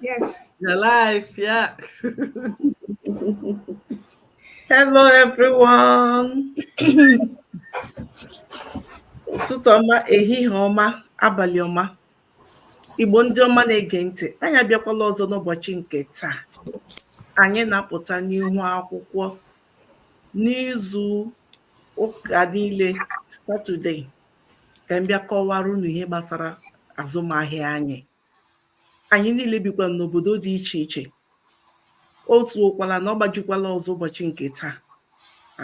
Yes. You're live, yeah. Hello, everyone. ụtụtụ ọma ehihie ọma abalị ọma igbo ndị ọma na-ege ntị anyị abịakwala ọzọ n'ụbọchị nke taa anyị na-apụta n'ihu akwụkwọ n'izu ụka niile satọde ka m bịa kọwara unu ihe gbasara azụmahịa anyị anyị niile bikwa n'obodo dị iche iche otu ụkwala na ọ gbajikwala ọzọ ụbọchị nke taa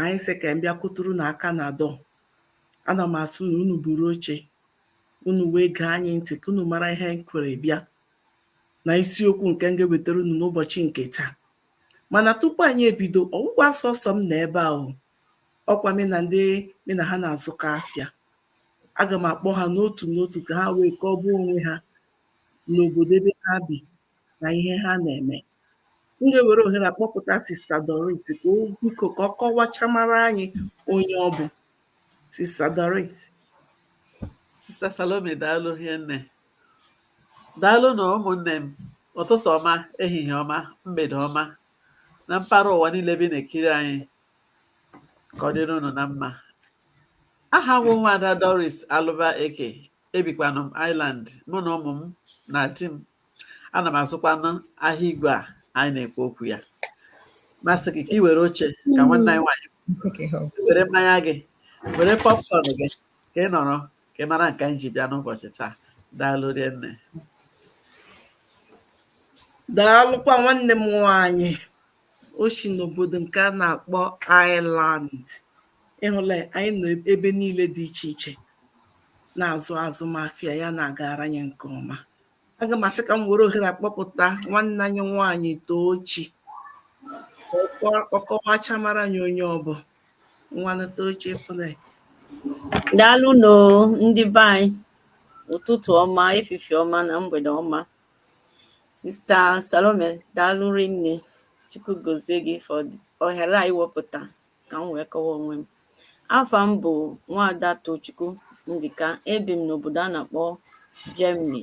anyị sị ka m bịa kụtụrụ unu aka na door ana m asị na unu buru oche unu wee gee anyị ntị ka unu mara ihe anyị kwere bịa na isiokwu nke m ga-ewetara unu n'ụbọchị nke taa mana tupu anyị ebido ọ wụghịkwa sọsọ m nọ ebe ahụ ọ kwa mụ na ndị mụ na ha na-azụkọ afịa aga m akpọ ha n'otu n'otu ka ha wee kọwaa onwe ha n'obodo ebe ha bi na ihe ha na-eme m ga-ewere ohere akpọpụta sista Doris ka o biko ka ọ kọwachamara anyị onye ọ bụ sista Doris sista Salome daalụ hinne daalụ nụ ụmụnne m ụtụtụ ọma ehihie ọma mgbede ọma na mpaghara ụwa niile bi na-ekiri anyị ka ọ dịrị unu na mma aha m bụ nwada Doris Alụba Eke ebikwanụ m Ireland mụ na ụmụ m na di m ana m azụkwanụ ahịa igwe a anyị na-ekwu okwu ya m asị gị ka ị were oche ka nwanne anyị nwaanyị were mmanya gị were popcorn gị ka ị nọrọ ka ị mara nke anyị ji bịa n'ụbọchị taa daalụ nne daalụkwa nwanne m nwaanyị o si n'obodo nke a na-akpọ Ireland ịhụla anyị nọ ebe niile dị iche iche na-azụ azụmahịa ya na-agara anyị nke ọma aga m asị ka m were ohere akpọpụta nwanne anyị nwaanyị Tochi ọ kọwachamara anyị onye ọ bụ nwanne Tochi fụle daalụ nụ ndị be anyị ụtụtụ ọma efifi ọma na mgbede ọma sista salome daalụ rinne chukwu gozie gị for ohere a i wepụta ka m wee kọwa onwe m afa m bụ nwaada tochukwu ndịka ebi m n'obodo a na-akpọ germany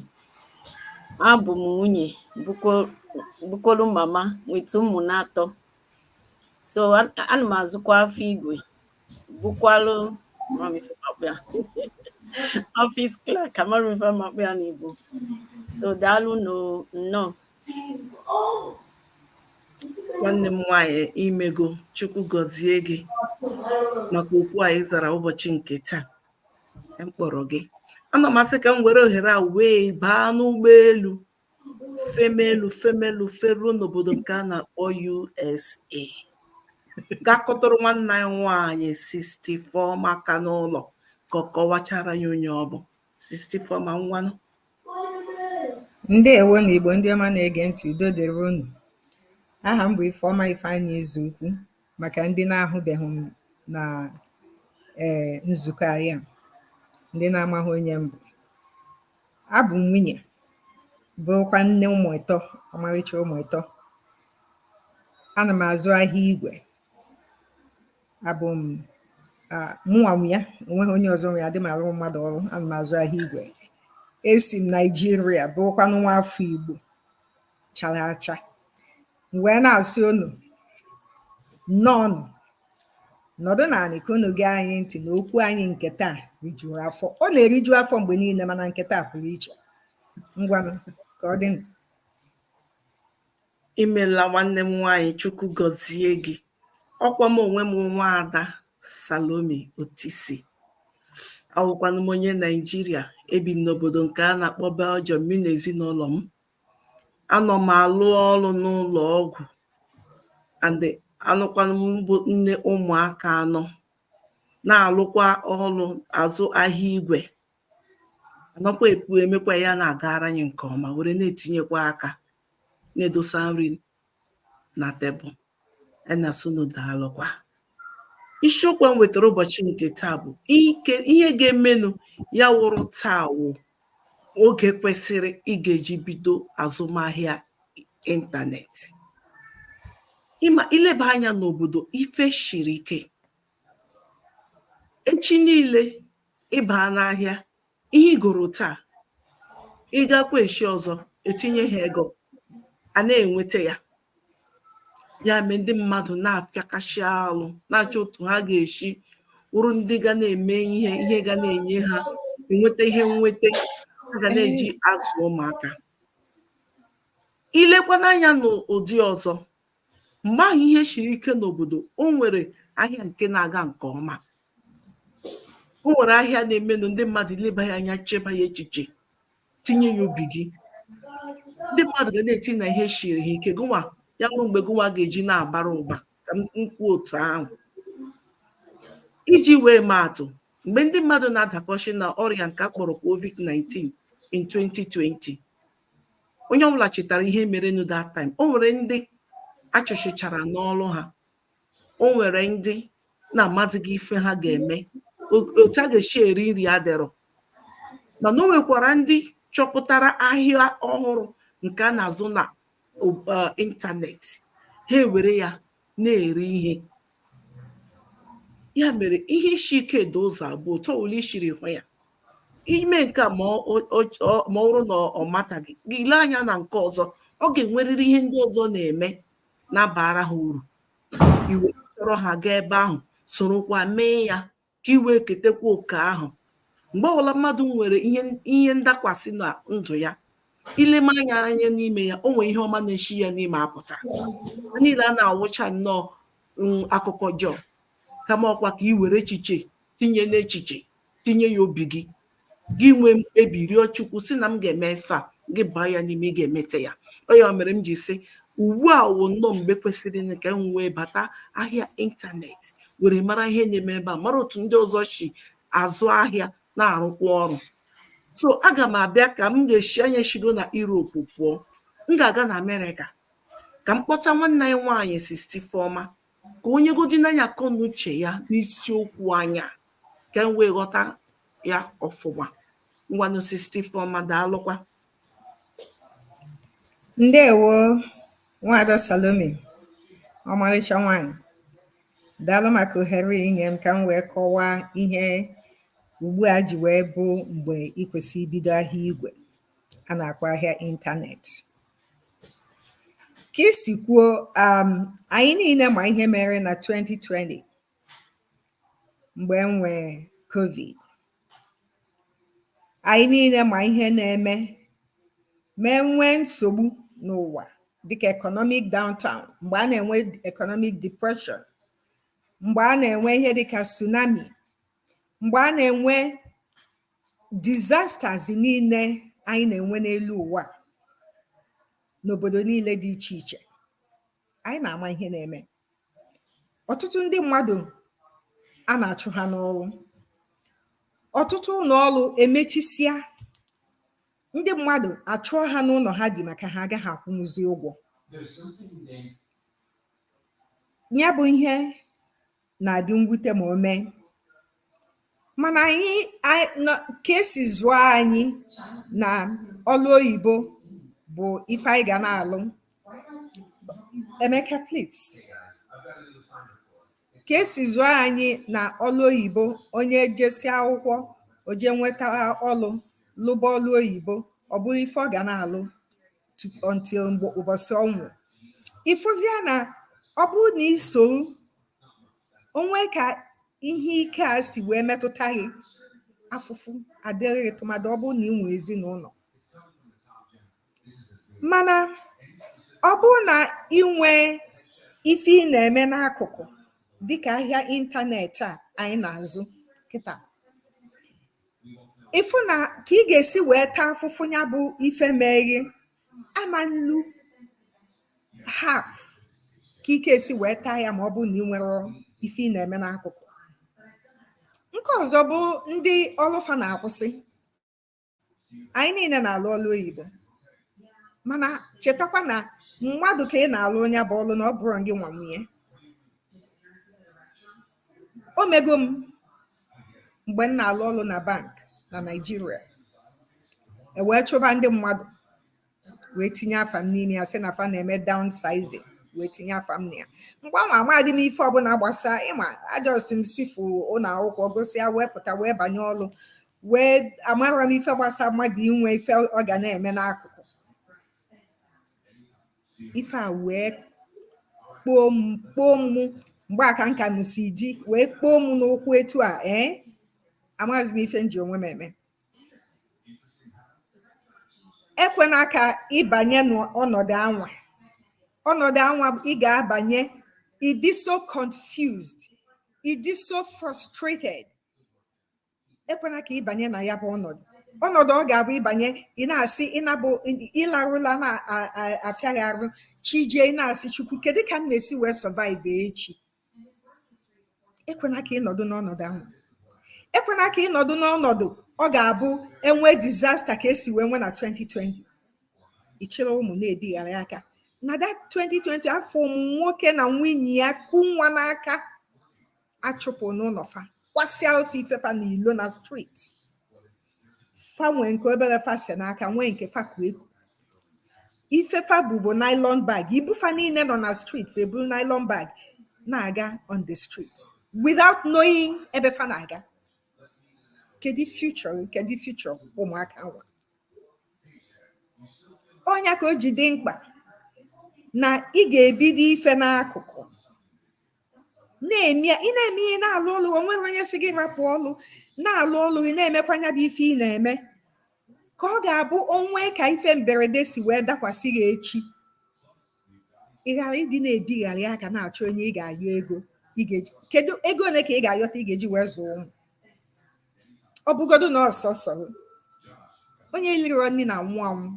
abụ m nwunye bụkwolu mama nweta ụmụ n'atọ so ana m azụkwa afịa igwe bụkwalụ office clerk amarọ m ife m ga-akpọ ya n'igbo so daalụ nnọọ nwanne m nwanyị imego chukwu gọzie gị maka oku a ị zara ụbọchị nke taa m kpọrọ gị ana m asị ka m were ohere a wee baa n'ụgbọelu femelu femelu feruo n'obodo nke a na-akpọ USA gaa kpọtụrụ nwanne anyị nwaanyị 64 maka n'ụlọ ka ọ kọwachaara anyị onye ọ bụ 64 ma ngwanụ ndewonụ igbo ndị ọma na-ege ntị udo dịrị unu aha m bụ Ifeọma Ifeanyị Izuukwu maka ndị na-ahụbeghị m na ee nzukọ anyị a ndị na-amaghị onye m bụ Abụ m nwunye, bụrụkwa nne ụmụ ịtọ, ọmarịcha ụmụ ịtọ. Ana m azụ ahịa igwe. Abụ m mụnwa nwe ya, onweghị onye ọzọ nwe ya, adịghị m arụ mmadụ ọrụ, ana m azụ ahịa igwe. Esi m Naịjirịa, bụrụkwanụ nwa afọ Igbo chara acha. M wee na-asị unu, nnọọnụ, nọdụ n'anị ka unu gee anyị ntị na okwu anyị nke taa rijuru afọ. Ọ na-eriju afọ mgbe niile mana nke taa pụrụ iche. Ngwanụ ka ọ dịnụ. Imela nwanne m nwaanyị Chukwu gọzie gị. Ọkwa m onwe m nwaada Salome Otisi. Awụkwanụ m onye Naijiria. Ebi m n'obodo nke a na-akpọ Belgium, mụ na ezinụlọ m. anọ m alụ ọrụ n'ụlọ ọgwụ and anụkwanụ m bụ nne ụmụaka anọ na-alụkwa ọrụ azụ ahịa igwe anọkwa ekwu emekwa ya na-agara anyị nke ọma were na-etinyekwa aka na-edosa nri na tebụl anyị na-asị unu daalụkwa isiokwu m wetara ụbọchị nke taa bụ ihe ga-emenụ ya wụrụ taa wụ oge kwesịrị ị ga-eji bido azụmahịa ịntanetị ị ma i leba anya n'obodo ife shiri ike echi niile ị baa n'ahịa ihe ị goro taa ị gakwa echi ọzọ e tinye ha ego a na-enweta ya ya mee ndị mmadụ na-apịakasị alụ na-achọ otu ha ga-esi wụrụ ndị ga na-eme ihe ihe ga na-enye ha enweta ihe nweta ha ga na-eji azụ ụmụaka i lekwanụ anya n'ụdị ọzọ mgbe ahụ ihe siri ike n'obodo o nwere ahịa nke na-aga nke ọma o nwere ahịa na-emenụ ndị mmadụ i leba ya anya cheba ya echiche tinye ya obi gị ndị mmadụ ga na-eti na ihe siri ha ike gụnwa ya bụrụ mgbe gụnwa ga-eji na-abara ụba ka m kwuo otu ahụ iji wee maa atụ mgbe ndị mmadụ na-adakọchi na ọrịa nke a kpọrọ covid-19 in 2020 onye ọbụla chetara ihe merenụ that time o nwere ndị a chụchịchara n'ọrụ ha o nwere ndị na-amazighị ife ha ga-eme otu a ga-esi eri nri adịrọ mana o nwekwara ndị chọpụtara ahịa ọhụrụ nke a na-azụ na ịntanetị ha ewere ya na-eri ihe ya mere ihe isi ike dị ụzọ abụọ otu ọbụla i siri hụ ya i mee nke a ma ọ bụrụ na ọ mataghị gị lee anya na nke ọzọ ọ ga-enwerịrị ihe ndị ọzọ na-eme na-abara ha uru i were chọrọ ha gaa ebe ahụ sorokwa mee ya ka i wee ketekwa oke ahụ mgbe ọbụla mmadụ nwere ihe ndakwasị na ndụ ya i leme anya anya n'ime ya o nwere ihe ọma na-esi ya n'ime apụta ha niile a na-awụcha nnọọ mm, akụkọ ọjọọ kama ọkwa ka i were echiche tinye n'echiche tinye ya obi gị gị nwee mkpebi rịọ chukwu sị na m ga-eme ife a gị baa ya n'ime ị ga-emete ya ọ ya mere m ji sị ugbu a wụ nnọọ mgbe kwesịrị ka m wee bata ahịa ịntanetị were mara ihe na-eme ebe a mara otu ndị ọzọ si azụ ahịa na-arụkwa ọrụ so aga m abịa ka m ga-esi anyị shigo na Europe pụọ m ga-aga na Amerịka ka m kpọta nwanne anyị nwaanyị Sister Ifeoma ka o nyegodinụ anyị akọ na uche ya n'isiokwu anyị a ka m wee ghọta ya ọfụma ngwanụ Sister Ifeoma daalụkwa ndewo nwaada Salome ọmarịcha nwanyị daalụ maka ohere i nye m ka m wee kọwaa ihe ugbu a ji wee bụ mgbe ị kwesịrị ibido ahịa igwe a na-akpọ ahịa ịntanetị ka i si kwuo um, anyị niile ma ihe mere na 2020 mgbe e nwee covid anyị niile ma ihe na-eme ma e nwee nsogbu n'ụwa dịka economic downturn mgbe a na-enwe economic depression mgbe a na-enwe ihe dịka tsunami mgbe a na-enwe disasters niile anyị na-enwe n'elu ụwa a, n'obodo niile dị iche iche anyị na-ama ihe na-eme ọtụtụ ndị mmadụ a na-achụ ha n'ọrụ ọtụtụ ụlọ ọrụ emechisịa ndị mmadụ a chụọ ha n'ụlọ ha bi maka ha agaghị akwụnwuzi ụgwọ ya bụ ihe na-adị mwute ma o mee. Mana anyị anyị nọ ka esi zụọ anyị na ọlụ oyibo bụ ife anyị ga na-alụ. Emeka please. Ka esi zụọ anyị na ọlụ oyibo onye jesịa akwụkwọ o jee nweta ọlụ lụba ọlụ oyibo ọ bụrụ ife ọ ga na-alụ until mgbe ụbọsị ọnwụ ị fụzia na ọ bụrụ na i soro o nwee ka ihe ike a si wee metụta gị afụfụ adịrị gị tụmadị ọ bụrụ na ị nwee ezinụlọ mana ọ bụrụ na ị nwee ife ị na-eme n'akụkụ dịka ahịa ịntanetị a anyị na-azụ kịta ị fụ na ka ị ga-esi wee taa afụfụ ya bụ ife meghe ama elu half ka ị ga-esi wee taa ya ma ọ bụrụ na ị nwerọ ife ị na-eme n'akụkụ nke ọzọ bụ ndị ọlụ fa na-akwụsị anyị niile na-alụ ọlụ oyibo mana chetakwa na mmadụ ka ị na-alụlụ nya bụ ọlụ na ọ bụrọ gị nwa nwe nya o mego m mgbe m na-alụ ọlụ na bank na Naịjirịa e wee chụba ndị mmadụ wee tinye afa m n'ime ya sị na fa na-eme downsizing wee tinye afa m na ya mgbe ahụ amadị m ife ọbụla gbasa ị ma ajust m sifu ụlọ akwụkwọ gụsịa wee pụta wee banye ọlụ wee amarọ m ife gbasa mmadụ inwe ife ọ ga na-eme n'akụkụ ife a wee kpoo m kpoo m mgbe aka nka nụsi ji wee kpoo m n'ụkwụ etu a ee eh? amaghịzi m ife m ji onwe m eme ekwena ka ị banye n'ọnọdụ anwa ọnọdụ anwa ị ga-abanye ị dị so confused ị dị so frustrated ekwena ka ị banye na ya bụ ọnọdụ ọnọdụ ọ ga-abụ ị banye ị na-asị ị na-abụ ịlarụ ụla na-afịa gị arụ chi jie ị na-asị chukwu kedu ka m na-esi wee survive echi ekwena ka ị nọdụ n'ọnọdụ ahụ ekwena ka ị nọdụ n'ọnọdụ ọ ga-abụ e nwee disaster ka e si wee nwee na 2020 ị chịrị ụmụ na-ebigharị aka na that 2020 afụ m nwoke na nwunye ya ku nwa n'aka achụpụ n'ụlọ fa kwasịalụ fa ife fa na ilo na street fa nwee nke obere fa se n'aka nwee nke fa ku eku ife fa bu bụ nylon bag ibu fa niile nọ na street fa eburu nylon bag na-aga on the street without knowing ebe fa na-aga kedu future gị? kedu future ụmụaka anwa ọ nya ka o ji dị mkpa na ị ga-ebido ife n'akụkụ na-eme ị na-eme ihe na-alụ ọlụ o nwero onye sị gị rapụ ọlụ na-alụ ọlụ gị na-emekwa nya bụ ife ị na-eme ka ọ ga-abụ o nwee ka ife mberede si wee dakwasị gị echi ị ghara ịdị na-ebigharị aka na-achọ onye ị ga-ayọ ego ị ga-eji kedu ego ole ka ị ga-ayọta ị ga-eji wee zụọ ụmụ ọ bụgodu na ọ sọsọ gị. onye iliro nni na-anwụ anwụ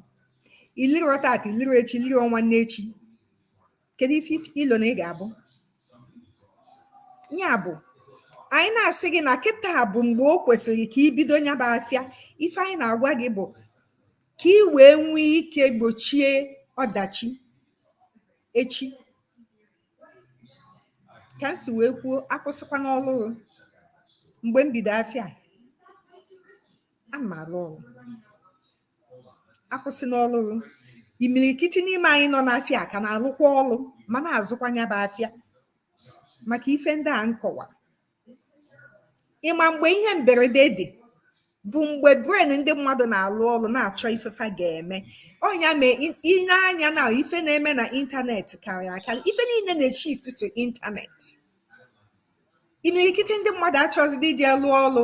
iliro tata iliro echi iliro nwanne echi Kedu ife i lo na ị ga-abụ? Ya bụ, anyị na-asị gị na kịta bụ mgbe o kwesịrị ka ị bido nya bụ afịa. Ife anyị na-agwa gị bụ ka ị wee nwee ike gbochie ọdachi echi. Ka m si wee kwuo, akwụsịkwana ọrụ gị. Mgbe m bido afịa a, ana m arụ ọrụ. akwụsịna ọlụ gị imirikiti n'ime anyị nọ n'afịa ka na-alụkwa ọlụ ma na-azụkwa nya bụ afịa maka ife ndị a m kọwa ị ma mgbe ihe mberede dị bụ mgbe brain ndị mmadụ na-alụ ọlụ na-achọ ife fa ga-eme ọ nya mee i lee anya na ife na-eme na ịntanetị karịrị akarị ife niile na-eshift to ịntanetị imirikiti ndị mmadụ achọzịdị ije lụọ ọlụ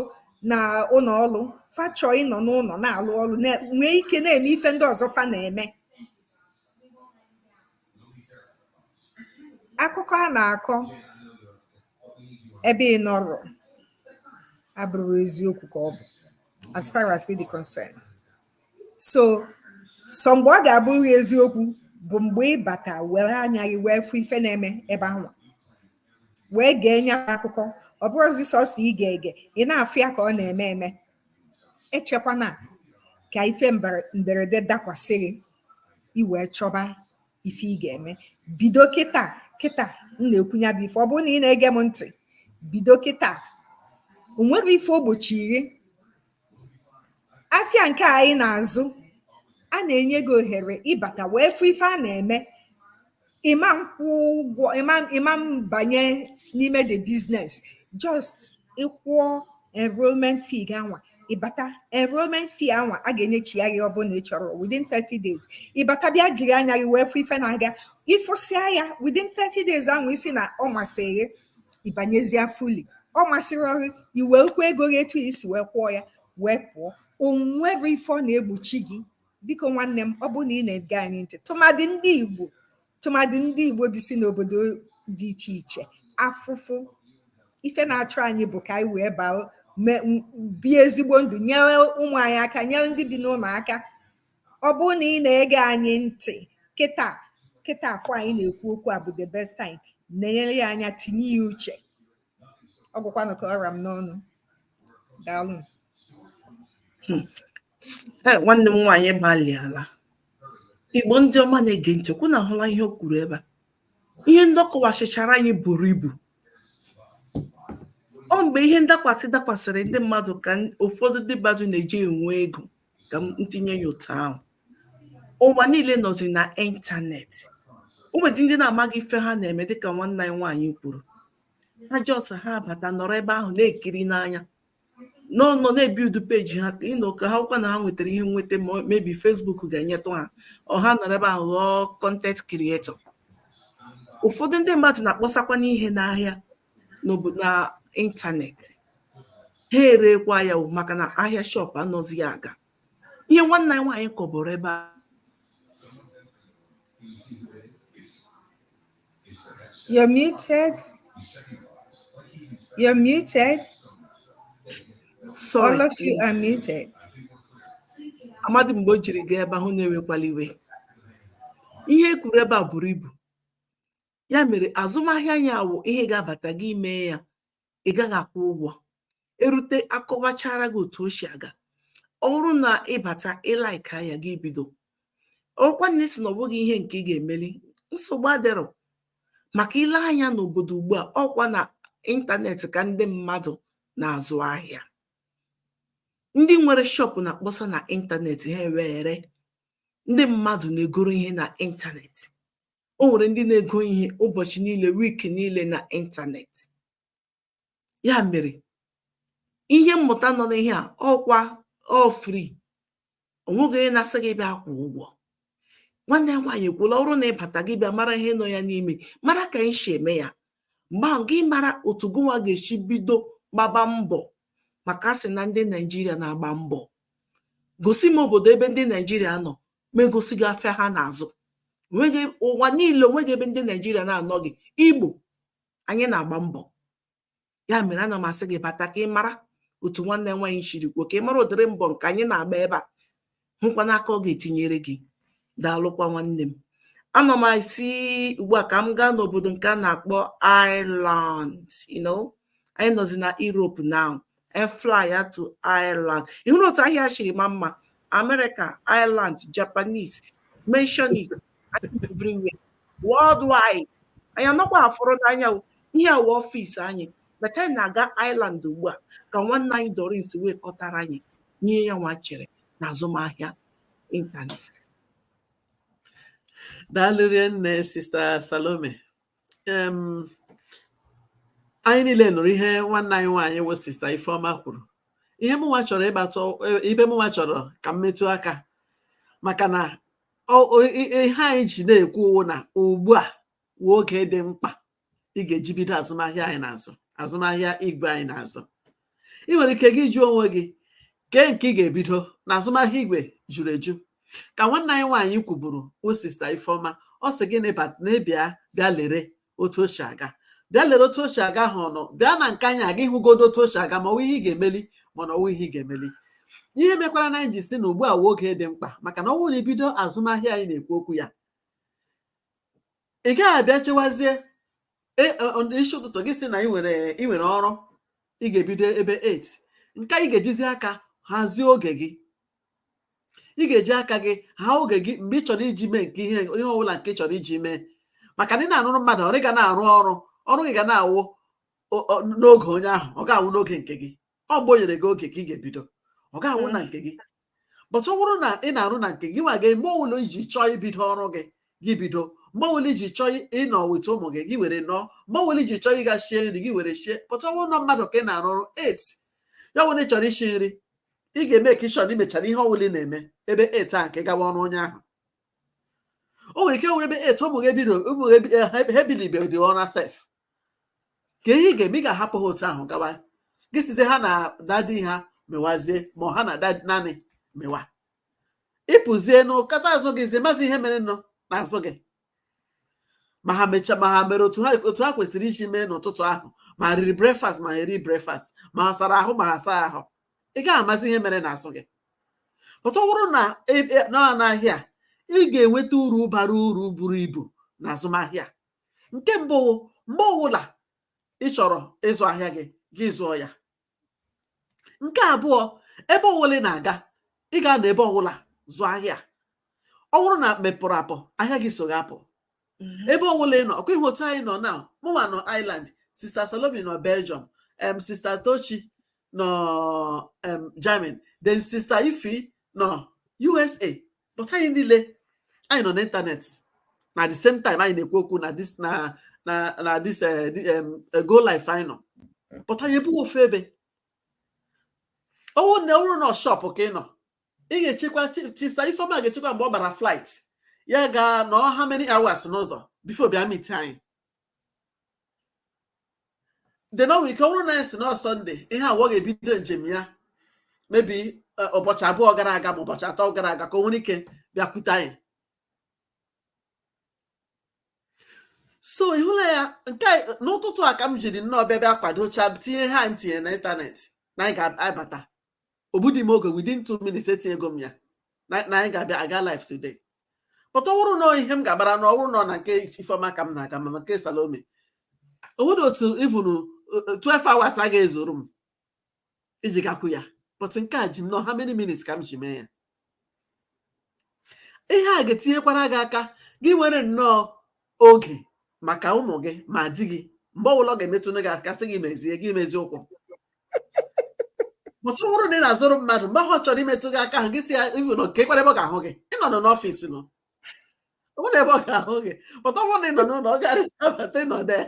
na ụlọ ọlụ fa chọọ ịnọ n'ụlọ na-alụ ọlụ na- nwee ike na-eme ife ndị ọzọ fa na-eme akụkọ a na-akọ ebe ị nọrọ abụrọ eziokwu ka ọ bụ as far as it is concerned sọsọ mgbe ọ ga-abụrụ eziokwu bụ mgbe ị bata were anya gị wee fụ ife na-eme ebe anwa wee gee nya akụkọ ọ bụrọzi sọsọ ige ege ị na-afụ ya ka ọ na-eme eme echekwana ka ife mberede dakwasị gị i wee chọba ife ị ga-eme bido kịta kịta m na-ekwu nya bụ ife ọ bụrụ na ị na-ege m ntị bido kịta o nwero ife o gbochiri afịa nke anyị na-azụ a na-enye gị ohere ịbata wee fụ ife a na-eme ị ma nkwụ ụgwọ ị ma ị ma mbanye n'ime the business just ị kwụọ enrollment fee gị anwa ị bata enrollment fee anwa a ga-enyechi ya gị ọ bụrụ na ị chọrọ within 30 days ị bata bịa jiri anya gị wee fụ ife na-aga ị fụsịa ya within 30 days ahụ ị sị na ọ masịrị gị ị banyezịa fully. Ọ masịrọ gị, i wekwa ego gị etu i si wee kwụọ ya wee pụọ. O nweghị ife ọ na-egbochi gị. Biko nwanne m, ọ bụrụ na ị na-ege anyị ntị, tụmadị ndị Igbo tụmadị ndị Igbo bi si n'obodo dị iche iche, afụfụ ife na-achụ anyị bụ ka anyị wee baa bie ezigbo ndụ, nyere ụmụ anyị aka, nyere ndị bi n'ụlọ aka. ọ bụrụ na ị na-ege anyị ntị kịta kịta afụ anyị na-ekwu okwu a bụ the best time nenye ya anya tinye ya uche ọ gwụkwanụ ka ọ ra m n'ọnụ daalụ hmm. eh, nwanne m nwaanyị agbalịala igbo ndị ọma na-ege ntị ọ kwa unu ahụla ihe o kwuru ebe a ihe ndị ọ kọwachichara anyị buru ibu ọ mgbe ihe ndakwasị dakwasịrị ndị mmadụ ka ụfọdụ ndị mmadụ na-eji enwe ego ka m tinye ya otu ahụ ụwa niile nọzi na ịntanetị o nwedị ndị na-amaghị ife ha na-eme dịka nwanne anyị nwaanyị kwuru ha jọs ha bata nọrọ ebe ahụ na-ekiri n'anya nọrọ na-ebiudu peji ha ịnọ ka ha kwa na ha nwetara ihe nweta maybe fesbuk ga-enyetụ ha ego ha nọrọ ebe ahụ ghọọ kọntent krietọ ụfọdụ ndị mmadụ na-akpọsakwanụ ihe n'ahịa na ịntanetị ha erekwa ya maka na ahịa shọp anazịghị aga ihe nwanne anyị nwaanyị kọwara ebe a You're muted. You're muted. Sorry. All of you are muted. Amadị m mgbe o jiri gaa ebe ahụ unu ewekwala iwe. Ihe e kwuru ebe a buru ibu. ya mere azụmahịa ya wụ ihe ị ga-abata gị emee ya ị gaghị akwụ ụgwọ i rute a kọwachara gị otu o si aga ọ bụrụ na ị bata ị laịkịa ya gị ebido ọ kwanụ ị sị na ọ bụghị ihe nke ị ga-emeli nsogbu adịrọ maka i lee anya n'obodo ugbu a ọkwa na ịntanetị ka ndị mmadụ na-azụ ahịa ndị nwere shọpụ na-akpọsa na ịntanetị ha were ndị mmadụ na-egoro ihe na ịntanetị o nwere ndị na-ego ihe ụbọchị niile wik niile na ịntanetị ya mere ihe mmụta nọ n'ihe a ọkwa ọ free onweghị onye na-asị gị bịa kwụ ụgwọ nwanne anyị nwaanyị ekwuola ọ bụrụ na ị bata gị bịa mara ihe nọ ya n'ime mara ka anyị si eme ya mgbe ahụ gị mara otu gịnwa ga-esi bido gbaba mbọ maka asị na ndị naijiria na-agba mbọ gosi m obodo ebe ndị naijiria nọ m egosi gị afịa ha na-azụ ụwa niile onweghị ebe ndị naijiria na-anọghị igbo anyị na-agba mbọ ya mere ana m asị gị bata ka ị mara otu nwanne anyị nwaanyị shiri kwuo ka ị mara ụdịrị mbọ nke anyị na-agba ebe a hụkwa n'aka ọ ga-etinyere gị daalụkwa nwanne m anọ m asị ugbu a ka m gaa n'obodo nke a na-akpọ Ireland you know anyị nọzi na Europe now efly ya to ireland ịhụrụ otu ahịa shiri maa mma amerịka ireland japanese mention it everywhere worldwide anyị anọkwa afụrụ n'anya ihe a wụ ọfịs anyị but anyị na-aga ireland ugbu a ka nwanne anyị doris wee kọtara anyị ihe yanwa chere na azụmahịa ịntanetị daalụ rinne sista salome anyị niile nụrụ ihe nwanne anyị nwaanyị wụ sista Ifeọma kwuru ihe mụnwa chọrọ ịgbatụ ebe mụnwa chọrọ ka m metụ aka maka na ihe anyị ji na-ekwu wụ na ugbu a wụ oge dị mkpa ị ga-eji bido azụmahịa anyị na-azụ azụmahịa igwe anyị na-azụ ị nwere ike gị jụọ onwe gị kee nke ị ga-ebido na azụmahịa igwe juru eju ka nwanne anyị nwaanyị kwuburu wụ sista ifeọma ọ sị gị na ị bata ị bịa bịa lere otu o si aga bịa lere otu o si aga ha ọnụ bịa na nke anyị a ka ị hụgodu otu o si aga ma ọwụ ihe ị ga-emeli ma na ọwụghị ihe ị ga-emeli ihe mekwara na anyị ji sị na ugbu a wụ oge dị mkpa maka na ọ bụrụ na i bido azụmahịa anyị na-ekwu okwu ya ị gaghị abịa chewazie e, e, ọ- isi ụtụtụ gị si na ị nwere ị nwere ọrụ ị ga-ebido ebe 8 nke a ị ga-ejizi aka hazie oge gị ị ga-eji aka gị ha oge gị mgbe ị chọrọ iji mee nke ihe ihe ọbụla nke ị chọrọ iji mee maka na ị na-arụrụ mmadụ ọrụ ị ga na-arụ ọrụ ọrụ gị ga na-awụ o- o- n'oge onye ahụ ọ gaghị awụ n'oge nke gị ọ mgbe o nyere gị oge ka ị ga-ebido ọ gaghị awụ na nke gị but ọ bụrụ na ị na-arụ na nke gị nwa gị mgbe ọbụla iji chọọ ibido ọrụ gị gị bido mgbe ọbụla iji chọọ ịnọ with ụmụ gị gị were nọrọ mgbe ọbụla iji chọọ ịga shie nri gị were shie but ọ bụrụ na mmadụ ka ị na-arụ ọrụ with ya ọ bụrụ na ị chọrọ isi nri ị ga-eme ka ịchọrọ imechara ihe ọbụla ị na-eme ebe 8 a ka ị gawa ọrụ onye ahụ o nwere ike nwere ebe 8 ụmụ gị ebido ụmụ gị ebi- eh, ha ebilibedị ụra sef kee ihe ị ga-eme ị ga-ahapụ ha otu ahụ gawa gị sizie ha na dadi ha mewazie ma ọ ha na nanny mewa ị pụzie nkata azụ gị zie mazi ihe mere nọ n'azụ gị ma ha mecha ma ha mere otu ha otu ha kwesịrị isi mee n'ụtụtụ ahụ ma ha riri breakfast ma ha eri breakfast ma ha sara ahụ ma ha saa ahụ ị gaghị amazi ihe mere n'azụ gị but ọ bụrụ na e- e- nọ n'ahịa ị ga-enweta uru bara uru buru ibu na azụmahịa nke mbụ wụ mgbe ọwụla ị chọrọ ịzụ ahịa gị gị zụọ ya nke abụọ ebe ọwụla ị na-aga ị ga-anọ ebe ọwụla zụọ ahịa ọ bụrụ na mepụrụ apụ ahịa gị so gị apụ mhm. ebe ọwụla ị nọ ọkwa ị hụ otu anyị nọ na mụnwa nọ Ireland sista Salome nọ Belgium em sista Tochi nọ em Germany then sista Ifi nọ USA but anyị niile anyị nọ n'ịntanetị na the same time anyị na-ekwu okwu na this na na na this eh, eh, eh, go live anyị nọ but anyị ebighị ofu ebe ọwụ na ọwụrụ na ọ shop ka ị nọ ị ga-echekwa sista Ifeoma ga-echekwa mgbe ọ gbara flight ya gaa nọọ how many hours n'ụzọ before ọ bịa meet anyị then o nwere ike ọ bụrụ na anyị sị na ọ Sunday ihe a ọ ga-ebido njem ya maybe ụbọchị abụọ gara aga ma ụbọchị atọ gara aga ka o nwere ike bịakwute anyị so ị hụla ya nke a- n'ụtụtụ a ka m jiri nnọọ bịa bịa kwadocha tinye ihe a m tinyere na ịntanetị na anyị ga-abata o gbudi m oge within two minutes etinyego m ya na na anyị ga-abịa aga live today but ọ bụrụ na ọ ihe m ga-agbara na ọ bụrụ na ọ na nke ifeọma ka m na-aga ma na nke Salome o nwere otu even 12 hours a ga-ezuru m iji gakwu ya but nke a ji m nnọọ how many minutes ka m ji mee ya ihe a ga-etinyekwara gị aka gị nwere nnọọ oge maka ụmụ gị ma di gị mgbe ọbụla ọ ga-emetụnụ gị aka sị gị mezie gị mezie ụkwụ but ọ bụrụ na ị na-azụrụ mmadụ mgbe ahụ ọ chọrọ imetụ gị aka ahụ gị sị ya even kee kwara ebe ọ ga-ahụ gị ị nọnụ n'ọfịs nụ ọ bụrụ ebe ọ ga-ahụ gị but ọ bụrụ na ị nọ n'ụlọ ọ ga-arụcha bata ị nọ there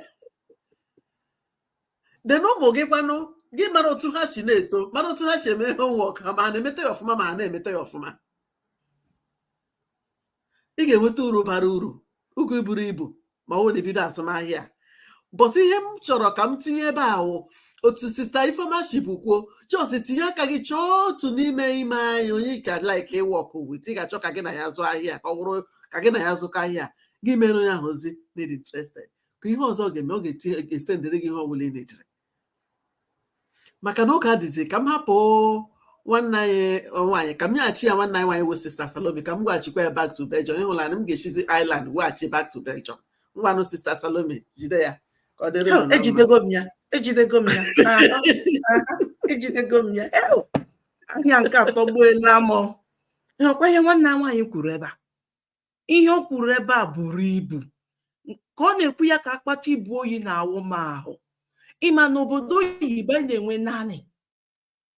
then ụmụ gị kwanụ gị mara otu ha si na-eto mara otu ha si eme homework ma ha na-emeta ya ọfụma ma ha na-emeta ya ọfụma ị ga-enweta uru bara uru ugwu iburu ibu ma ọ wụrụ na ị bido azụmahịa but ihe m chọrọ ka m tinye ebe a wụ otu sista Ifeoma sibu kwuo just tinye aka gị chọọ otu n'ime ime anyị onye ị ka like iwork with ị ga-achọ ka gị na ya zụọ ahịa ka ọ bụrụ ka gị na ya zụkọ ahịa gị mere onye ahụ ozi na ị dị interested kee ihe ọzọ ọ ga-eme ọ ga-esendịrị gị ihe ọ bụla ị needịrị maka na oge adịzi ka m hapụ nwanne anyị nwaanyị ka m nyeghachi ya nwanne anyị nwaanyị wụ sista Salome ka m weghachikwa ya back to Belgium ị hụla na m ga-esizi Ireland weghachi back to Belgium ngwanụ sista Salome jide ya ka ọ dịrị unu na mma. ejidego m ya ejidego m ya aha, aha, ejidego m ya Ew! ahịa nke a atọgbuela m ị hụkwa ihe nwanne anyị nwaanyị kwuru ebe a ihe o kwuru ebe a buru ibu ka ọ na-ekwu ya ka akpata ibu oyi na-awụ m ahụ ị ma na obodo oyibo anyị na-enwe nanny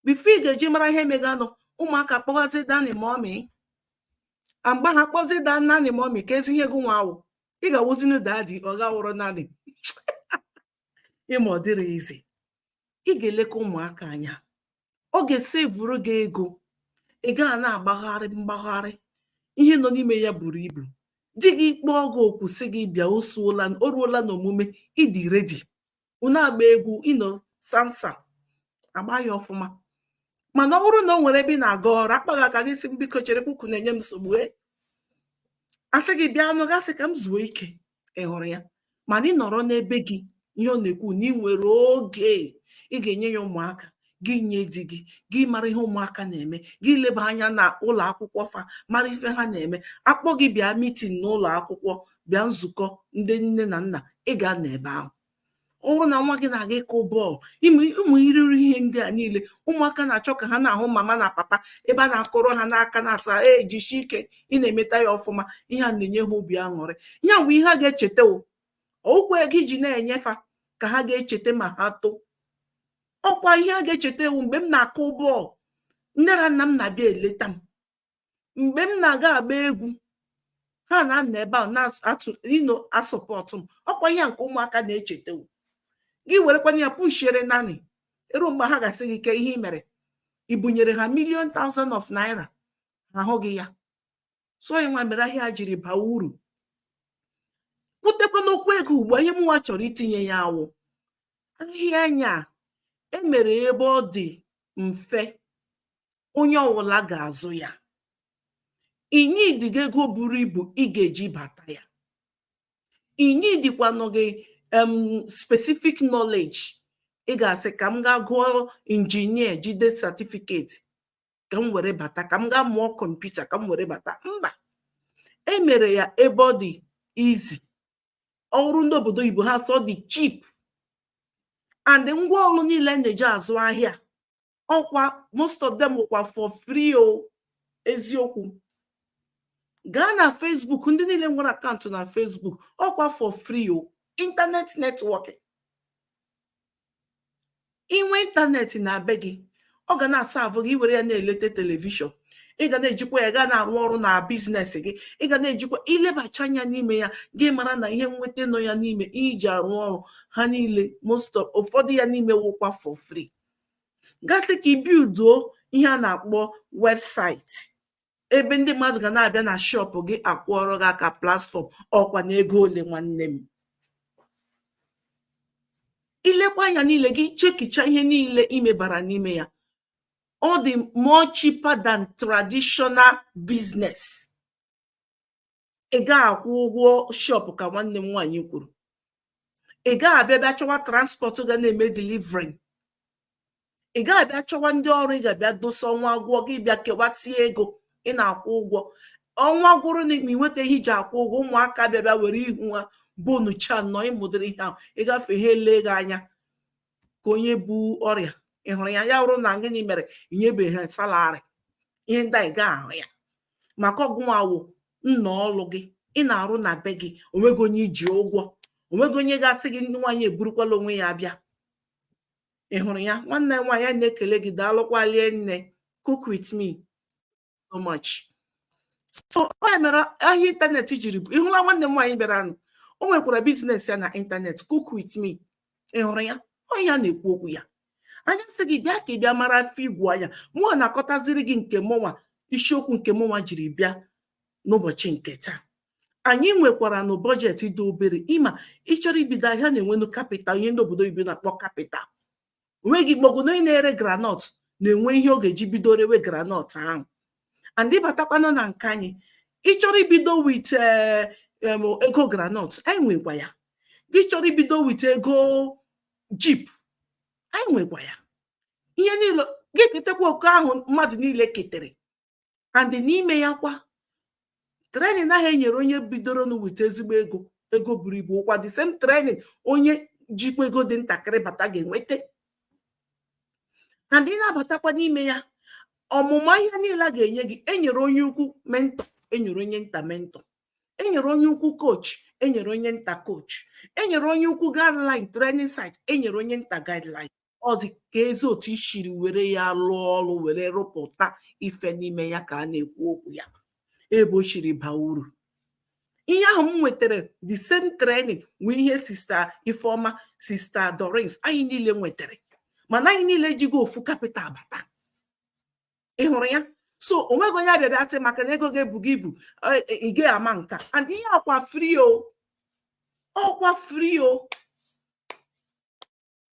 before ị ga-eji mara ihe meganụ ụmụaka akpọwazi nanny mummy mgbe ha kpọzi the nanny mummy keezi ihe gị nwa wụ ị ga-awụzinu daddy ọ ga-awụrụ nanny ị ma ọ dịghị easy ị ga-eleka ụmụaka anya ọ ga-esevuru gị ego ị gaa na-agbagharị mgbagharị ihe nọ n'ime ya buru ibu di gị kpọọ gị oku sị gị bịa osuola o ruola n'omume ị dị ready unu agba egwu you know salsa agba ya ọfụma mana ọ bụrụ na ọ nwere ebe ị na-aga ọrụ a kpa gị aka gị sị m biko chere ukwu na-enye m nsogbu e. a sị gị bịanụ gị asị ka m zuo ike ị hụrụ ya mana ị nọrọ n'ebe gị ihe ọ na-ekwu na ị nwere oge ị ga-enye ya ụmụaka gị nye di gị gị mara ihe ụmụaka na-eme gị leba anya na ụlọ akwụkwọ fa mara ife ha na-eme a kpọọ gị bịa meeting n'ụlọ akwụkwọ bịa nzukọ ndị nne na nna ị gaa na ebe ahụ ọ bụrụ na nwa gị na-aga ịkụ bọọlụ ụmụ iriri ihe ndị a niile ụmụaka na-achọ ka ha na-ahụ mama na papa ebe a na-akụrụ ha n'aka na-asị ha jisi ike ị na-emeta ya ọfụma ihe a na-enye ha obi aṅụrị ya bụ ihe ha ga-echeta ọ wụkwọ ego ị ji na-enye fa ka ha ga-echeta ma ha too ọkwa ihe ha ga-echeta ewo mgbe m na-akụ bọọlụ nne na nna m na-abịa eleta m mgbe m na-aga agba egwu ha na-anọ ebe ahụ na-atụ you know asọpọtụ m ọkwa ihe nke ụmụaka na-echeta gị werekwana ya pushiere nanny e ruo mgbe ha ga-asị gị kee ihe ị mere ị bunyere ha million thousand of naira ha ahụghị ya so ịnwa mere ahịa jiri baa uru kwutekwa n'okwu ego ugbu a ihe mụnwa chọrọ itinye ya awụ ahịa anyị a e mere ebe ọ dị mfe onye ọwụla ga-azụ ya e nwedịghị ego buru ibu ị ga-eji bata ya e nwedịkwanụghị em specific knowledge ị ga-asị ka m gaa gụọ injinia jide satifiketi ka m were bata ka m gaa mụọ kọmputa ka m were bata mba e mere ya ebe ọ dị easy ọ wụrụ ndị obodo oyibo ha asị ọ dị cheap and ngwa ọrụ niile na-eji azụ ahịa ọkwa most of them wụkwa for free o eziokwu gaa na Facebook ndị niile nwere akaụntụ na Facebook ọkwa for free o internet networking inwe ịntanetị na be gị ọ ga na-asaavụ gị ị were ya na-eleta telivishọn ị ga na-ejikwa ya gaa na-arụ ọrụ na biznes gị ị ga na-ejikwa ilebacha anya n'ime ya gị mara na ihe nweta nọ ya n'ime iji arụ ọrụ ha niile most of ụfọdụ ya n'ime wụkwa for free gasị ka i bilduo ihe a na-akpọ webụsaịtị ebe ndị mmadụ ga na-abịa na shọpụ gị akwụọrọ gị aka platfọm ọkwa na ego ole nwanne m i lekwaa anya niile gị chekicha ihe niile imebara n'ime ya ọ dị more cheaper than traditional business ị gaghị akwụ ụgwọ shọpụ ka nwanne m nwaanyị kwuru ị gaghị abịa bịa chọwa transpọtụ ga na-eme delivri ị gaghị abịa chọwa ndị ọrụ ị ga-abịa dosa ọnwa agwụọ gị bịa kewasie ego ị na-akwụ ụgwọ ọnwa gwụrụ na ị nweta ihe iji akwụ ụgwọ ụmụaka abịa bịa were ihu ha bonucha nọ ị ma ụdịrị ihe ahụ ị gafee ha ele gị anya ka onye bu ọrịa ị hụrụ ya ya bụrụ na gịnị mere inyebeghị ha salarị ihe ndị a ị gaghị ahụ ya maka ọ gịnwa wụ nnọọ ọlụ gị ị na-arụ na be gị onweghị onye i ji ụgwọ onweghị onye ga-asị gị na nwaanyị eburukwala onwe ya abịa ị hụrụ ya nwanne nwaanyị na-ekele gị daalụkwa rinne cook with me so much so onye mere ahịa ịntanetị jiri bụ ịhụla nwanne m nwaanyị bịara nụ o nwekwara biznes ya na ịntanetị cook with me ị hụrụ ya onye ya na-ekwu okwu ya anyị sị gị bịa ka ị bịa mara afọ igwu anya mụnwa na-akọtaziri gị nke mụnwa isiokwu nke mụnwa jiri bịa n'ụbọchị nke taa anyị nwekwara nụ bọjetị dị obere ị ma ị chọrọ ibido ahịa a na-enwenụ kapital ihe ndị obodo oyibo na-akpọ kapital onweghị maọbụ na onye na-ere granọt na-enwe ihe ọ ga-eji bido rewe granọt ahụ and ịbatakwanụ na nke anyị ị chọrọ ibido wit eh, ego granọt anyị nwekwa ya gị chọrọ ibido wit ego jip anyị nwekwa ya ihe niile gị ketekwa oke ahụ mmadụ niile ketere and n'ime ya kwa trenin ahụ e nyere onye bidoro nụ wit ezigbo ego ego buru ibu ọkwa the same trenin onye jikwa ego dị ntakịrị bata ga-enweta and ị na-abatakwa n'ime ya ọmụma ihe niile a ga-enye gị enyere onye ukwu mentọ enyere onye nta mentọ enyere onye ukwu kochi enyere onye nta kochi enyere onye ukwu guideline training site enyere onye nta guideline ọ dị ka ezi otu i siri were ya lụọ ọrụ were rụpụta ife n'ime ya ka a na-ekwu okwu ya ebe o siri baa uru ihe ahụ m nwetara the same training nwee ihe sista ifeoma sista dorins anyị niile nwetara mana anyị niile jigo ofu kapịtal bata ị hụrụ ya so o nweghị onye a bịa bịa sị maka na ego gị ebughị ibu e, e, ị gaghị ama nka and ihe a ọkwa free o ọkwa free o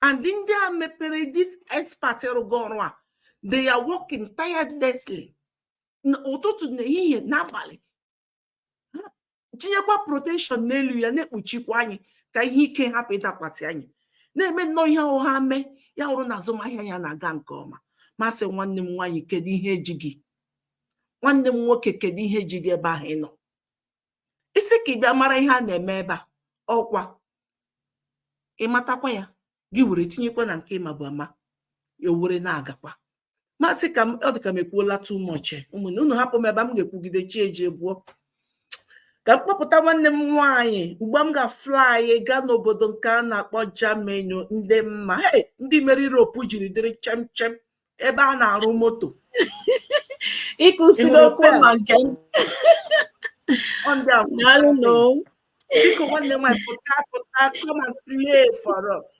and ndị a mepere this expert rụgo ọrụ a they are working tirelessly ụtụtụ na ehihie n'abalị tinyekwa protection n'elu ya na-ekpuchikwa anyị ka ihe ike hapụ ịdakwasị anyị na-eme nnọọ ihe ọ ga-eme ya hụrụ na azụmahịa a na-aga nke ọma m asị nwanne m nwaanyị kedu ihe ji gị nwanne m nwoke kedu ihe ji gị ebe ahụ ị nọ ị sị ka ị bịa mara ihe a na-eme ebe a ọkwa ị matakwa ya gị were tinyekwa na nke ị mabu ama ya were na-agakwa m asị ka ọ dị ka m ekwuola too much eh, ụmụnne unu hapụ m ebe a m ga-ekwugide chi ejie bọọ ka m kpọpụta nwanne m nwaanyị ugbu a m ga-afly gaa n'obodo nke a na-akpọ Germany ndị mma ndị mere Europe jiri dịrị chemchem ebe a na-arụ moto ịkụsiri okwu ma nke biko nwanne nwanyị pụta pụta come and slay for us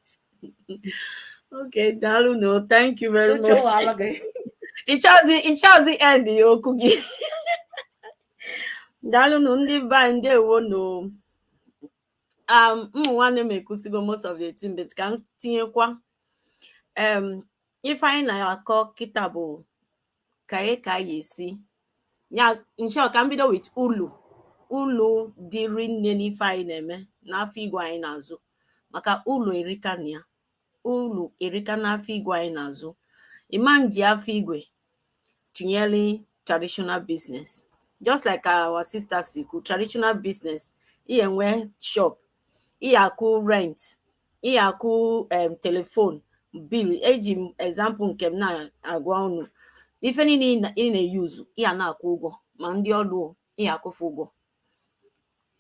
okay daalụ nụ thank you very much ị chọọzi ị chọọzi end ya okwu gị daalụnụ ndị be anyị ndewo nụ um ụmụ nwanne m ekwusigo most of the thing but ka m tinyekwa um ife anyị na-akọ kịta bụ ka anyị ka anyị esi in short ka m bido with ulu ulu dị rinne n'ife anyị na-eme n'afịa igwe anyị na-azụ maka ulu erika na ya ulu erika n'afịa igwe anyị na-azụ ị ma-eji afịa igwe tụnyere traditional business just like our sister si kwu traditional business ị ya-enwe shop ị ya-akwụ rent ị ya-akwụ em telephone bill eji m example nke m na-agwa unu ife niile ị na- ị na-eyuzu ị ya na-akwụ ụgwọ ma ndị ọrụ ị ya-akwụ fa ụgwọ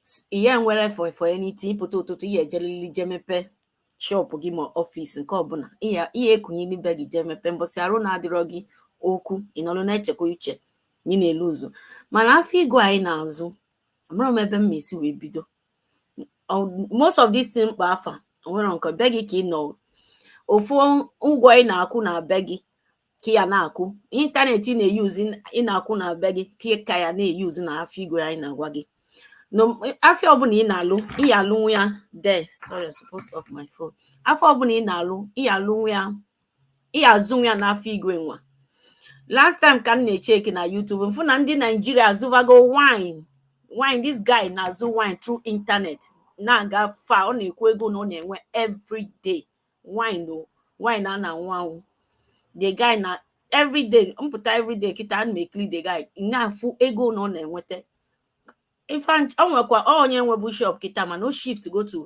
S- ihe nwere for for anything ị pụta ụtụtụ ị ya-ejelili je mepe shọpụ gị ma ọfịs nke ọbụla ị ya- ị ya-ekunie na be gị je mepe mbọsị arụ na-adịrọ gị ọkwa ị nọrọ na-echekwa uche na ị na-eluzu mana afịa igwe anyị na-azụ amarọ m ebe m ma esi wee bido most of this thing m kpọ afa o nwere ike be gị ka ị nọ ofu ụgwọ ị na-akwụ na be gị ka ị ya na-akwụ ịntanetị ị na-eyuzi ị na-akwụ na be gị ka ị ka ya na-eyuzi na afọ igwe anyị na-agwa gị na afịa ọbụna ị na-alụ ị ya-alụnwu ya de sorry I suppose off my phone afịa ọbụna ị na-alụ ị ya-alụnwu ya ị ya-azụnwu ya n'afọ igwe nwa last time ka m na-echeki na YouTube m fụ na ndị Naijiria azụvago wine wine this guy na-azụ wine through internet na-aga fa ọ na-ekwu ego na ọ na-enwe everyday wine o wine a na-anwụ anwụ the guy na everyday m pụta everyday kịta m na-ekiri the guy na-afụ ego na ọ na-enweta ife o nwekwa onye nwebu shop kịta mana o shift go to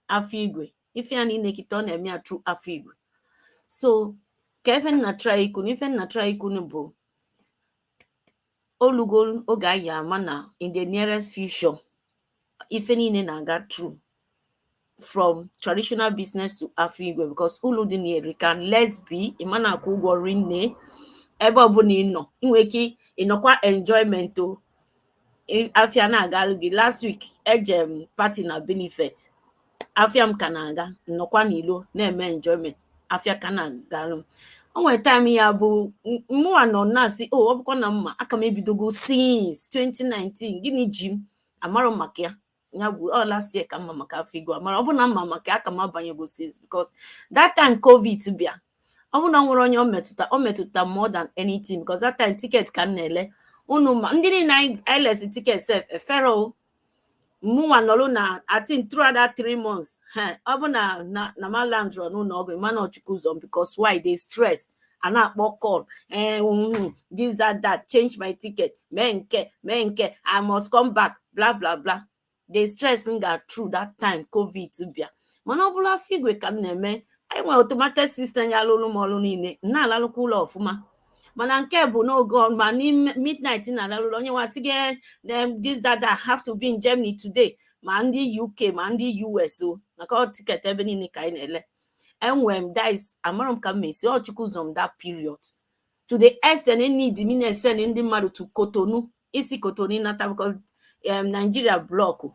afọ igwe ife ya niile kịta ọ na-eme ya through afọ igwe so ka ife m na-try ikwu na ife m na-try ikwu bụ o lugo oge anyị ama na in the nearest future ife niile na-aga through from traditional business to afọ igwe because ulu dị na ya erika let's be ị ma na-akwụ ụgwọ rinne ebe ọbụna ị nọ ị nwere ike ịnọkwa enjoyment o afia na-agalụ gị last week eje m party na Bielefeld afia m ka na-aga m nọkwa n'ilo na-eme enjoyment afia ka na-agalụ m o nwere time ya bụ mụwa nọ na-asị o ọ bụkwa na m ma aka m ebidogo since 2019 gịnị ji m amarọ maka ya ya bụ ọ last year ka m ma maka afọ igwe a mana ọ bụ na m ma maka ya aka m abanyego since because that time covid bịa ọ bụ na o nwere onye ọ metụta ọ metụta m more than anything because that time ticket ka m na-ele unu ma ndị niile anyị anyị lesi ticket sef eferọ o mụnwa nọrụ na atin throughout that three months he ọ bụ na na na m alandrọ n'ụnọ ọgwụ ma na ọ Chukwu zọ m because why the stress a na-akpọ call eh, mm, this that that change my ticket mee nke mee nke i must come back bla bla bla the stress m ga through that time covid bịa mana ọ bụrụ afọ igwe ka m na-eme anyị nwere automated system ya-alụlụ m ọrụ niile na-alalụkwa ụla ọfụma mana nke bụ n'oge ma n'ime midnight na-alalụlụ onye nwa sị gị eh, this that that have to be in Germany today ma ndị UK ma ndị US o maka ọ ticket ebe niile ka anyị na-ele enwere m this amarọ m ka m esi ọ Chukwu zọ m that period to the extent eneedi m ịna-esend ndị mmadụ to Cotonou isi Cotonou nata because um, nigeria blọkụ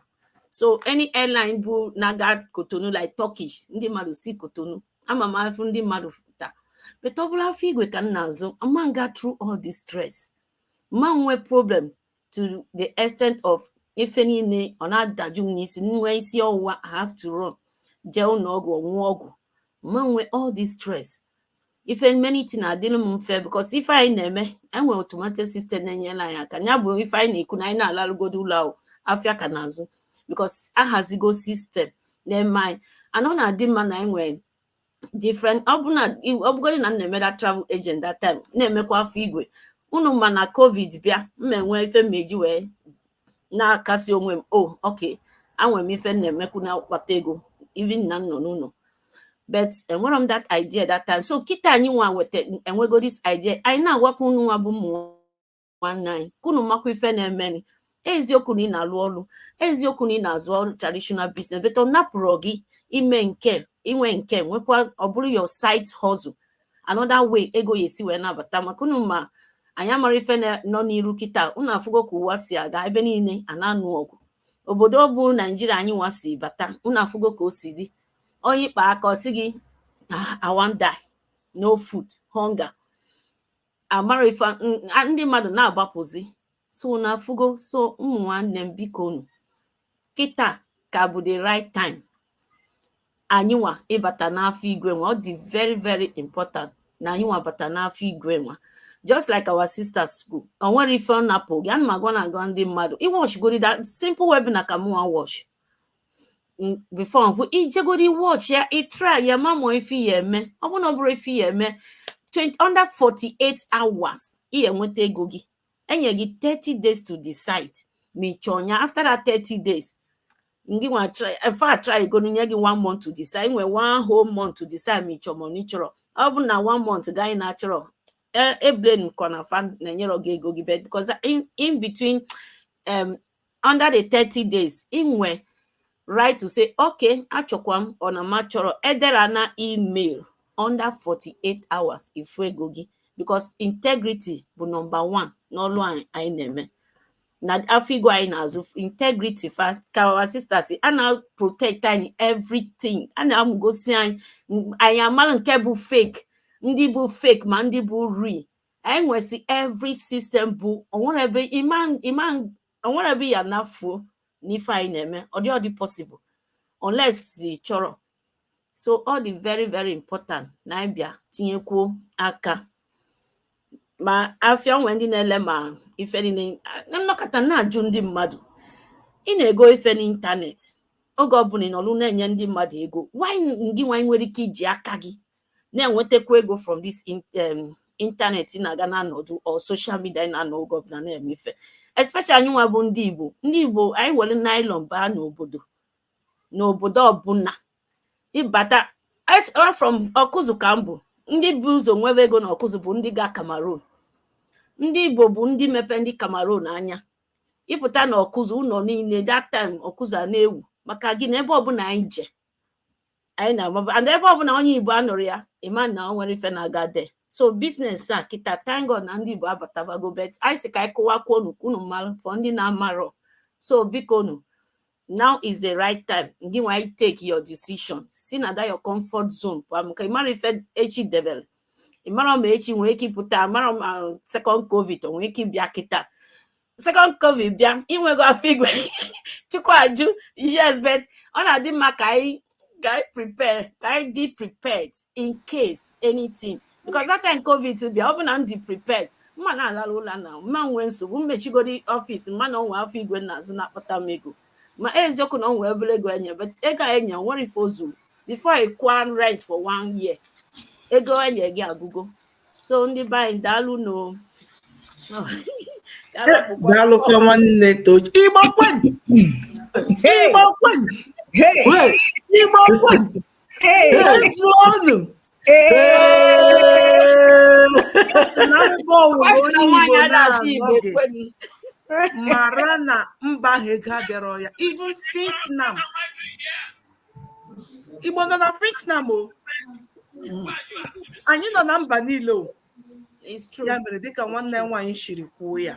so any airline bụ na-aga Cotonou like turkish ndị mmadụ si Cotonou ama m afụ ndị mmadụ fụta but ọ bụrụ afọ igwe ka m na-azụ ama m aga through all this stress ma nwee problem to the extent of ife niile ọ na-adaju m n'isi nwe isi ọwụwa I have to run jee ụlọ ọgwụ ṅụọ ọgwụ ma nwe all this stress ife many thing adịrị m mfe because ife anyị na-eme enwe automatic system na-enyere anyị aka ya bụ ife anyị na-ekwu na anyị na-alarụgodu ụla afịa ka na-azụ because ahazigo system na-eme anyị and ọ na-adị mma na anyị nwere different ọ bụ na ọ bụgodị na m na-eme that travel agent that time na-emekwa afọ igwe unu ma na covid bịa m ma enwe ife m eji wee na-akasi onwe m o ok enwere m ife m na-emekwu na-akpata ego even na m nọ n'ụnọ but enwerọ m that idea that time so kịta anyị nwa nweta enwego this idea anyị na-agwakwa unu nwa bụ ụmụ nwanne anyị ka unu makwa ife na-emeni eziokwu na ị na-alụ ọrụ eziokwu na ị na-azụ your traditional business but ọ napụrọ gị ime nke inwe nke nwekwa ọ bụrụ your side hustle another way ego ya esi wee na-abata maka unu ma anyị amarọ ife nọ n'iru kịta unu afụgo ka ụwa si aga ebe niile a na-anụ ọgụ obodo bụ naijiria anyị nwa si bata unu afụgo ka o si dị onye ị kpa aka ọ sị gị awanda ah, no food hunger amara ife ndị mmadụ na-agbapụzi so unu afụgo so ụmụ nwanne m biko unu kịta ka bụ the right time anyịnwa ịbata n'afọ igwe nwa ọ dị very very important na anyịnwa bata n'afọ igwe nwa just like our sister si kwuo o nwere ife ọ napụ gị ana m agwa na-agwa ndị mmadụ ị watch godi that simple webinar ka mụnwa watch before nkwụ ị jegodi watch ya ị try ya ma ọ bụ ife ị ya eme ọ bụrụ na ọ bụrọ ife ị ya eme 20 under 48 hours ị enweta ego gị enye gị 30 days to decide ma ị chọrọ ya after that 30 days ngị nwa fa a trygo nye gị one month to decide nwee one whole month to decide ma ị chọrọ ma ị chọrọ ọ bụ na one month gaa ị na-achọrọ e blamekwana fa na enyerọ gị ego gị back because in between um under the 30 days ị nwe right to say okay achọkwa m ọ na m achọrọ edera ya na email under 48 hours ị fụ ego gị because integrity bụ number one n'ọlụ anyị anyị na-eme na afọ igwe anyị na-azụ integrity fa ka our sister si a na-protect anyị everything a na-amụgosi anyị m- anyị amara nke bụ fake ndị bụ fake ma ndị bụ real anyị nwesị every system bụ onwere ebe onwere ebe ị ya-anọ fuo n'ife anyị na-eme ọ dị ọ dị possible unless ị chọrọ so ọ dị very very important na anyị bịa tinyekwuo aka ma afịa onwe ndị na-ele ma ife niile na m nọkata na-ajụ ndị mmadụ ị na-ego ife n'ịntanetị oge ọbụla ị nọrụ na-enye ndị mmadụ ego while ngị nwa ị nwere ike iji aka gị na-enwetakwa ego from this um, internet na-aga na anọdụ or social media na-anọ oge ọbụla na-eme ife especially anyị nwa bụ ndị Igbo ndị Igbo anyị were nylon baa n'obodo n'obodo ọbụla ịbata from ọkụzụ ka m bụ ndị bu ụzọ nwebe ego na ọkụzụ bụ ndị ga Cameroon ndị Igbo bụ ndị mepe ndị Cameroon anya ịpụta na ọkụzụ ụlọ niile that time ọkụzụ na-ewu maka gịnị ebe ọbụla anyị je anyị na-agbaba and ebe ọbụla onye igbo anọrọ ya ịma na o nwerọ ife na-aga there so business a kịta thank God na ndị igbo abatabago but anyị sị ka anyị kọwakwuo unu ka unu malụ for ndị na-amarọ so biko nu now is the right time gị nwa ị take your decision si na that your comfort zone pụọ maka ịmarọ ife echi debele ịmarọ ma echi nwee ike ịpụta ịmarọ ma second covid o nwee ike ịbịa kịta second covid bịa inwego afịa igwe chukwu ajụ yes but ọ na-adị mma ka anyị ka anyị prepare ka anyị dị prepared in case anything because that time covid bịa ọ bụ na m dị prepared m ma na-alara ụlọ na m ma nwee nsogbu ma emechigodu ọfịs m ma na o nwe afịa igwe na-azụ na-akpata m ego ma eziokwu na o nwe obere ego e nye but ego e nye nwerọ ife o zuru before ị kwụọ rent for one year ego e nye gị agụgo so ndị be anyị daalụnụ o daalụkwa nwanne tochi igbo kwenu igbo kwenu igbo kwezuonu mara na mba ahụ ego adịrọ ya even Vietnam Igbo nọ na Vietnam o anyị nọ na mba niile ọ ya mere dịka nwanne anyị nwaanyị siri kwuo ya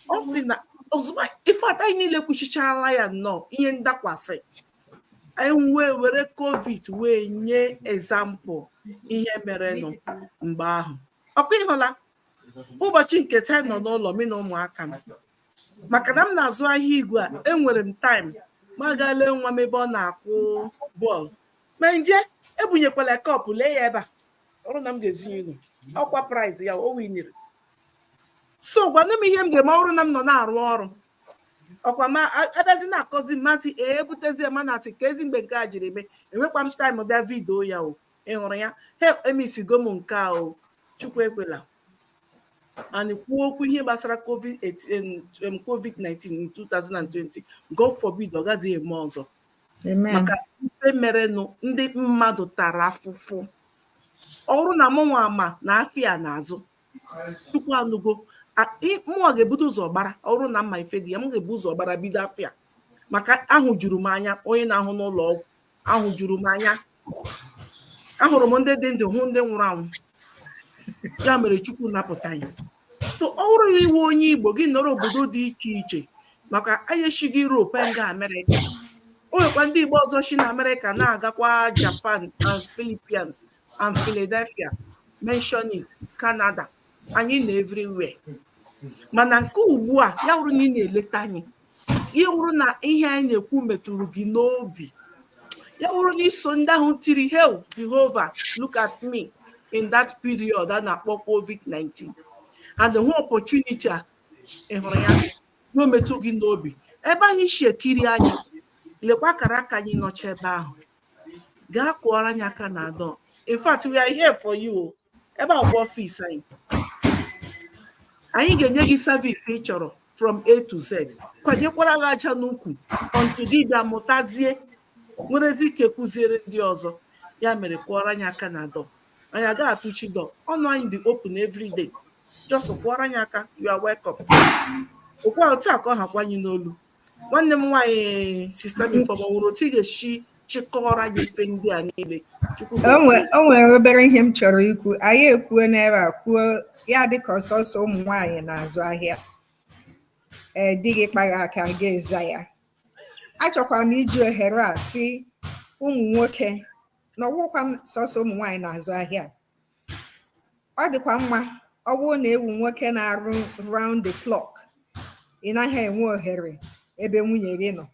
ọ sị na ozugbo ife ata anyị niile kwuchichaala ya nnọọ ihe ndakwasị anyị wee were covid wee nye example ihe merenụ mgbe ahụ ọkwa ịhụla ụbọchị nke taa nọ n'ụlọ mi na ụmụaka m maka na m na-azụ ahịa igwe a enwere m time m gaa lee nwa m ebe ọ na-akụ bọọlụ ma nje ebunyekwala cup lee ya ebe a ọrụ na m ga-ezinye unu ọkwa prize ya o winiri so gwanụ m ihe m ga-eme ọrụ na m nọ na-arụ ọrụ ọkwa ma abịazi na-akọzi m asị ee ebutezie ma na asị ka ezi mgbe nke a jiri mee enwekwa m time bịa video ya o ị hụrụ ya he emisigo m nke a o chukwu ekwela anyị kwuo okwu ihe gbasara covid-19 in 2020 god forbid ọ gaghị eme ọzọ maka ife merenụ ndị mmadụ tara afụfụ ọrụ na mụnwa ma na afịa na-azụ chukwu anụgo mụnwa ga-ebudo ụzọ gbara ọrụ na m ma ife dị ya m ga-ebu ụzọ gbara bido afịa maka ahụ juru m anya onye na-arụ n'ụlọ ọgwụ ahụ juru m anya ahụrụ m ndị dị ndụ hụ ndị nwụrụ anwụ ya mere chukwu napụta anyị so ọ bụrụ na ị wụ onye igbo gị nọrọ obodo dị iche iche maka anyị esighị Europe anyị ga Amerịka o nwekwa ndị igbo ọzọ si na Amerịka na-agakwa Japan and Philippines and Philadelphia mention it Canada anyị nọ everywhere mana nke ugbu a ya bụrụ na ị na-eleta anyị ya wụrụ na ihe anyị na-ekwu metụrụ gị n'obi ya wụrụ na i so ndị ahụ tiri hew jehova look at me in that period a na-akpọ covid-19 and the whole opportunity a ị hụrụ ya na o metụ gị n'obi ebe ahụ i si ekiri anyị lekwa akara aka anyị nọcha ebe ahụ gaa kụọrọ anyị aka na door in fact we are here for you ebe a bụ ọfịs anyị anyị ga-enye gị service ị chọrọ from a to z kwanyekwara gị aja n'ukwu until ị bịa mụtazie nwerezi ike kụziere ndị ọzọ ya mere kụọrọ anyị aka na door anyị agaghị atụchi door ọnụ anyị dị open every day just kụọrọ anyị aka you are welcome ọ kwa otu a ka ọ hakwa anyị n'olu nwanne m nwaanyị sista gị fọgbaworo otu ị ga-esi chịkọọrọ anyị ife ndị a niile chukwu o nwe- o nwere obere ihe m chọrọ ikwu anyị ekwuo n'ebe a kwuo ya dịka ọ sọsọ ụmụ nwaanyị na-azụ ahịa ee di gị kpaa gị aka gị aza ya achọkwara m iji ohere a sị ụmụ nwoke na ọ bụghịkwa sọsọ ụmụ nwaanyị na-azụ ahịa ọ dịkwa mma ọ bụrụ na ị wụ nwoke na-arụ round the clock ị naghị enwe ohere ebe nwunye gị nọ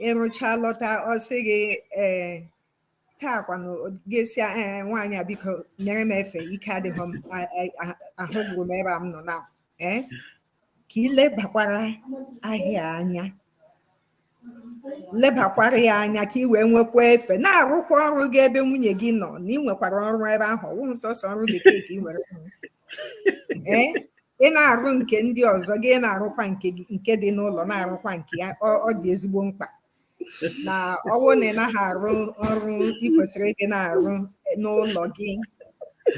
ị rụchaa lọta ọ sị gị ee taa kwanụ gị asị ya ee nwaanyị a biko nyere m efe ike adịghị m a- a- a- ahụ gburu m ebe a m nọ na ee ka ị lebakwara ahịa anya lebakwara ya anya ka ị wee nwekwa efe na-arụkwa ọrụ gị ebe nwunye gị nọ na ị nwekwara ọrụ ebe ahụ ọ wụghị sọsọ ọrụ bekee ka ị nwere ee ị na-arụ nke ndị ọzọ gị na-arụkwa nke dị n'ụlọ na-arụkwa nke ya ọ dị ezigbo mkpa na ọ wụ na ị naghị arụ ọrụ ị kwesịrị ịdị na-arụ n'ụlọ gị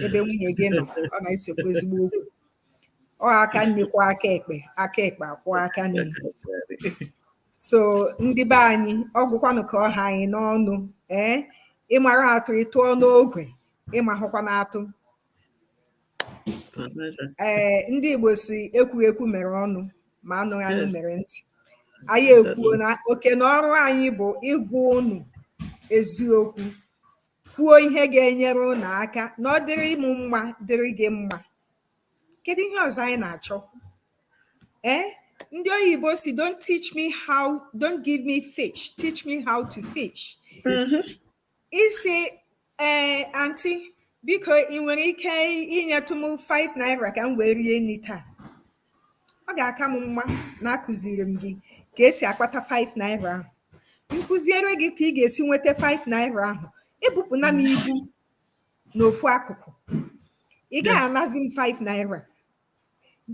ebe nwunye gị nọ ọ na-esekwa ezigbo okwu ọ aka nni kwọọ aka ekpe aka ekpe akwọọ aka nni so ndị be anyị ọ wụkwanụ ka ọ ha anyị n'ọnụ ee ị mara atụ ị tụọ n'ogwe ị mahụkwanụ atụ ee ndị igbo sị ekwughị ekwu mere ọnụ ma anụghị anụ Yes. mere ntị anyị ekwuo na oke na ọrụ anyị bụ ịgwa unu eziokwu kwuo ihe ga-enyere unu aka na ọ dịrị mụ mma dịrị gị mma Kedu ihe ọzọ anyị na-achọ? Ee, eh, ndị oyibo sị don't teach me how, don't give me fish, teach me how to fish. Mm-hmm. Ị sị ee eh, anti biko ị nwere ike inyetụ m 5 naira ka m wee rie nri taa ọ ga-aka m mma na akụziri m gị ka esi akpata 5 naira ahụ m kụziere gị ka ị ga-esi nweta 5 naira ahụ ebupụna m ibu n'ofu akụkụ ị gaghị anazi m 5 naira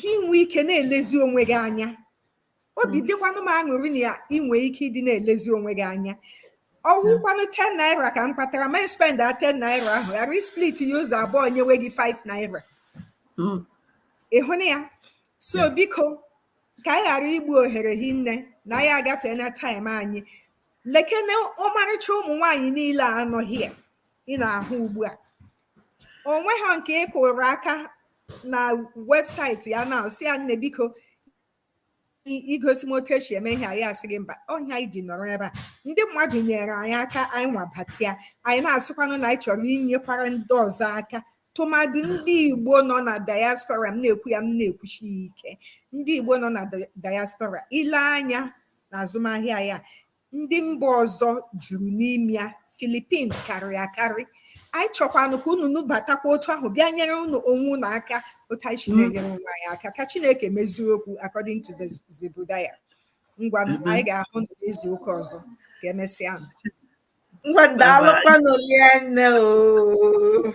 gị nwee ike na-elezi onwe gị anya obi hmm. dịkwanụ m aṅụrị na ya inwe ike ịdị na-elezi onwe gị anya ọwụkwanụ 10 naira ka m kpatara ma spend a 10 naira ahụ ghara isplit ya ụzọ abụọ nyewe gị 5 naira hmm. ị hụna ya so biko ka anyị ghara igbu ohere hinne na anyị agafeena time anyị lekene ọmarịcha ụmụ nwaanyị niile a nọ here ị na-ahụ ugbu a o nweghị nke ị kụrụ aka na website ya na sị ya nne biko igosi m otu esi eme ihe a ya asị gị mba ọ ihe anyị ji nọrọ ebe a ndị mmadụ nyere anyị aka anyịnwa batịa anyị na-asịkwanụ na anyị chọrọ inyekwara ndị ọzọ aka tụmadị ndị igbo nọ na diaspora m na-ekwu ya m na-ekwusi ya ike ndị igbo nọ na diaspora i lee anya n'azụmahịa ya ndị mba ọzọ juru n'ime ya Philippines karịrị akarị anyị chọkwanụ ka unu nubatakwa otu ahụ bịa nyere unu onwe unu aka otu anyị si mm. na-enyere onwe anyị aka ka Chineke mezie okwu according to Zebudaya ngwa mm-hmm. anyị ga-ahụ n'izu ụka ọzọ ka emesịa ngwa daalụkwanụ rinne o